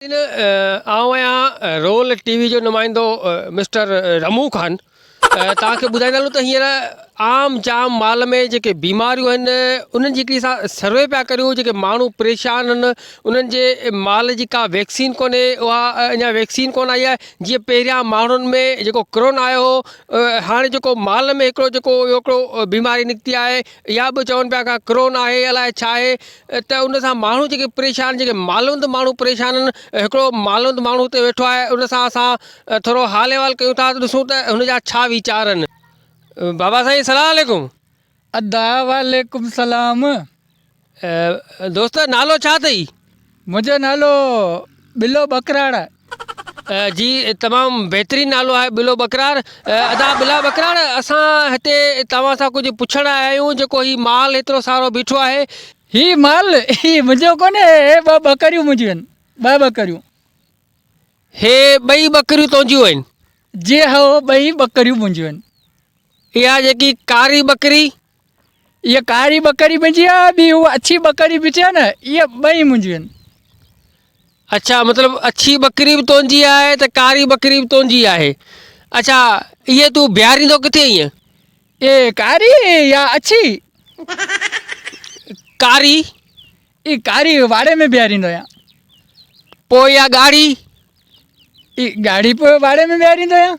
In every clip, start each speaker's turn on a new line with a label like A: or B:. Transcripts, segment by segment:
A: سائين آئون آهيان رول ٽي وي جو نمائندو مسٽر رمون خان توهان کي ٻڌائيندا هلون ته هينئر عام جام مال ۾ جيڪي بيماريون آهن انهن جي هڪڙي اسان سروي پيا ڪريون جيڪي ماڻهو پريشان آهن انهن جي مال جي ڪا ويڪسين ڪونهي اها اڃا ويڪسين ڪونه آئي آهي جيئن پهريان ماڻهن ۾ جيڪو ڪرونا آيو هو هاڻي جيڪو مال ۾ هڪڙو جيڪو هڪڙو بيماري نڪتي آهي اها به چون پيا ڪرونا آهي الاء ڇا آهي ته ان سان ماڻهو جيڪي پريشان جيڪي مالوند ماڻهو پريشان آهن هڪڙو مالوند ماڻهو اتي ويٺو آهي ان سان اسان ٿورو حال احوال ڪيون ٿا ڏسون ته هن جا ڇا ويچار آهن بابا سائين سلام عليڪم. ادا
B: وعليڪم سلام.
A: دوست نالو ڇا اٿئي. منهنجو نالو
B: ٻلو ٻڪراڙ. جي
A: تمام بهترين نالو آهي ٻلو ٻڪراڙ ادا ٻلا ٻڪراڙ اسان هتي توهان سان ڪجهه پڇڻ آيا آهيون جيڪو هي مال هيترو سارو بيٺو آهي. هي مال
B: هي منهنجو ڪونهي هي ٻه ٻڪريون منهنجيون آهن ٻه ٻڪريون.
A: هي ٻئي ٻڪريون تنهنجيون آهن. جي هو
B: ٻئي ٻڪريون منهنجيون آهن. اها جيڪي
A: ڪاري ٻڪري اها
B: ڪاري ٻڪري منهنجي آ ٻي هو اڇي ٻڪري به چئه نه اهي ٻئي منهنجيون آهن
A: اڇا مطلب اڇي ٻڪري به تنهنجي آهي ته ڪاري ٻڪري به تنهنجي آهي اڇا اهي تون بيهاريندو ڪٿي اهي اي ڪاري
B: يا اڇي
A: ڪاري اي
B: ڪاري واڙي ۾ بيهاريندو آهيان پوء
A: يا ڳاڙهي
B: اي ڳاڙهي پوء واڙي ۾ بيهاريندو آهيان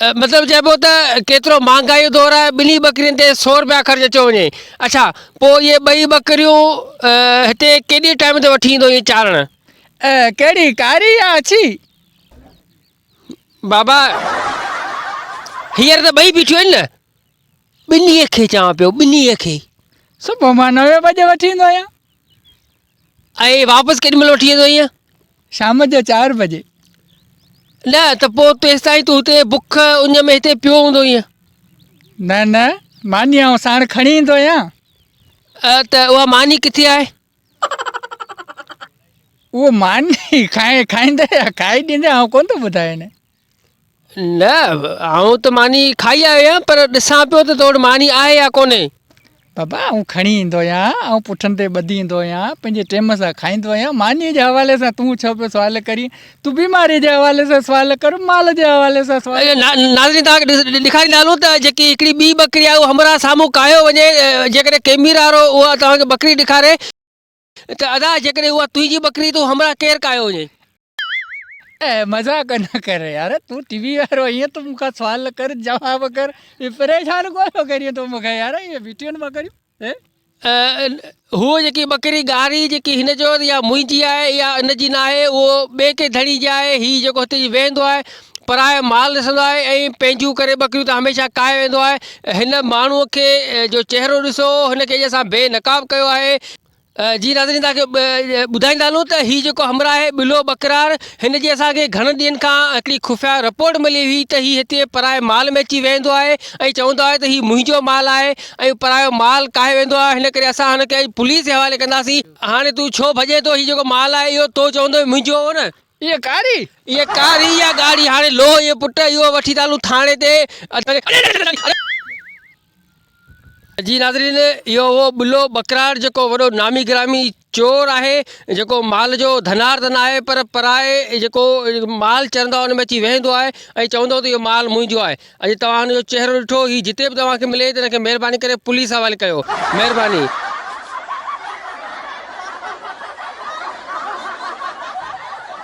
A: مطلب چئبو ته ڪيترو مهانگائي جو دور آهي ٻنهي ٻڪرين تي سو روپيا خرچ اچيو وڃي اڇا پوء اهي ٻئي ٻڪريون هتي ڪيڏي ٽائيم تي وٺي ايندو اهي چارڻ. ڪهڙي
B: ڪاري يا اڇي؟
A: بابا هينئر ته ٻئي بيٺيون آهن نه. ٻنهي کي چوان پيو ٻنهي کي. صبح مان
B: نوي بجي وٺي ايندو آهيان.
A: ۽ واپس ڪيڏي مھل وٺي ويندو ايئن؟ شام جو چار
B: بجي.
A: نه ته پوء تيستائين تون ھتي بک اڃ ۾ ھتي پيو ھوندو ايئن؟ نه
B: نه ماني آئون ساڻ کڻي ايندو آھيان. ته
A: اھا ماني ڪٿي آھي؟
B: اھو ماني کائيندي يا کائي ڏيندي آئون ڪونه ٿو ٻڌايان. نه،
A: آئون ته ماني کائي آيو آهيان، پر ڏسان پيو ته تو وٽ ماني آهي يا ڪونهي. بابا، آئون
B: کڻي ايندو آهيان، آئون پٺن تي ٻڌي ايندو آهيان، پنهنجي ٽيم سان کائيندو آهيان، مانيء جي حوالي سان تون ڇو پيو سوال ڪرين؟ تون بيماريء جي حوالي سان سوال ڪر، مال جي حوالي سان سوال ڪر. ناظرين توهان کي
A: ڏيکاريندا هلون ته جيڪي هڪڙي ٻي ٻڪري آهي اهو همراهه سامهون ڪاهيو وڃي، جيڪڏهن ڪيميرا وارو اها توهان کي ٻڪري ڏيکاري، ته ادا جيڪڏهن اها تنهنجي ٻڪري تون همراهه ڪير ڪاهيو وڃين. اي
B: مذاق نه ڪر يار تون ٽي وي وارو ائين ٿو مون کان سوال نه ڪر جواب ڪر اي پريشان ڪو ٿو ڪرين تون مون کي يار اي ويٽيون مان ڪريون اي
A: هوء جيڪي ٻڪري ڳاري جيڪي هن چيو ته اها منهنجي آهي اها ان جي ناهي اهو ٻئي ڪنهن ڌڻي جي آهي هي جيڪو هتي ويهندو آهي پرايو مال ڏسندو آهي ۽ پنهنجون ڪري ٻڪريون ته هميشه ڪاهي ويندو آهي. هن ماڻهوء کي جو چهرو ڏسو هن ڪيجي سان بي نقاب ڪيو آهي. جي ناظرين توهان کي ٻڌائيندا هلون ته هي جيڪو همراهه آهي ٻلو ٻڪرار هن جي اسان کي گهڻن ڏينهن کان هڪڙي خفيه رپورٽ ملي هئي ته هي هتي پرايي مال ۾ اچي ويهندو آهي ۽ چوندو آهي ته هي منهنجو مال آهي ۽ پرايو مال ڪاهي ويندو آهي هن ڪري اسان هن کي اڄ پوليس جي حوالي ڪنداسين. هاڻي تون ڇو ڀڄين ٿو هي جيڪو مال آهي اهو تو چوندو هئين منهنجو هو نه. اهي ڪاري
B: اهي ڪاري يا
A: ڳاڙهي هاڻي لو اهي پٽ اهو وٺي ٿا هلون ٿاڻي تي اڄ جي ناظرين اهو هو ٻلو ٻڪراڙ جيڪو وڏو نامي گرامي چور آهي جيڪو مال جو ڌنار ته ناهي پر پرائي جيڪو مال چرندو آهي ان ۾ اچي ويهندو آهي ۽ چوندو ته اهو مال منهنجو آهي اڄ توهان هن جو چهرو ڏٺو هي جتي به توهان کي ملي ته هن کي مهرباني ڪري پوليس حوالي ڪيو مهرباني